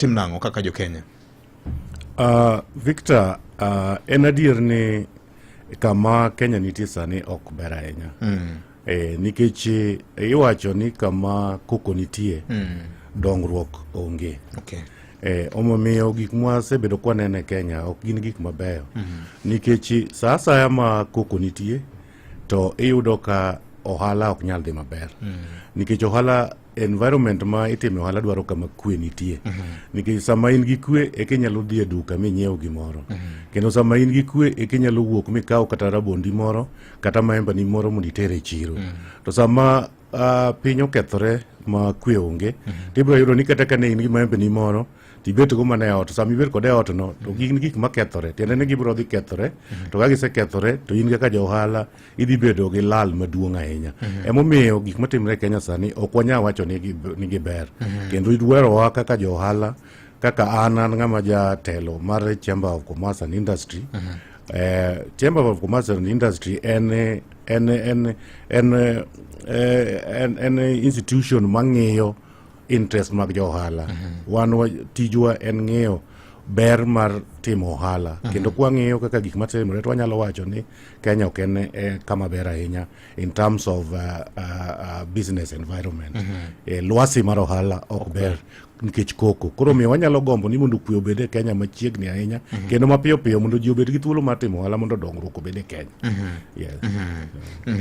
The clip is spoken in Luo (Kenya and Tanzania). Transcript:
tim nang'o kaka jo Kenya? Uh, Victor, uh, en adier ni kama Kenya nitie sani ok ber ahinya mm. e, nikech e, iwacho ni kama koko nitie mm. dongruok onge okay. E, omomiyo gik mwasebedo kwaneno e Kenya ok gin gik mabeyo mm -hmm. nikech saa asaya ma koko nitie to iyudo ka ohala ok nyal dhi maber mm. nikech ohala environment ma itime ohala dwaro kama kwe nitie mhm. nikech sama in gi kwe eka inyalo dhi e duka minyiew gimoro mhm. kendo sama in gi kwe eka inyalo wuok mikaw kata rabondi moro kata maembani moro mondo iter e chiro mhm. to sama uh, piny okethore ma kwe onge to ibiro yudo ni kata ka ne in gi maembeni moro tibet go mana e ot sama ibet kode e ot no to gin gik makethore tiende ni gibiro dhi kethore to ka gisekethore to in kaka ja ohala idhi bedo gi lal maduong' ahinya mhm. emomiyo gik matimre e kenya sani ok wanyal wacho ni giber mhm. kendo idwerowa kaka jo ohala kaka an an ng'ama jatelo mar chamber of commerce and industry mhm. eh, chamber of commerce and industry en en en en eh, en, en institution mang'iyo interest mag jo ohala wan tijwa en ng'iyo ber mar timo ohala kendo kwang'iyo kaka gik matimore to wanyalo wacho ni Kenya ok en eh, kama ber ahinya in terms of uh, uh, uh, business environment mm -hmm. eh, lwasi mar ohala ok okay. ber nikech koko koro miyo wanyalo gombo ni mondo kwe obed e kenya machiegni ahinya mm -hmm. kendo mapiyo piyo mondo ji obed gi thuolo mar timo ohala mondo dongruok obed e kenya mm -hmm. yes. mm -hmm. Mm -hmm.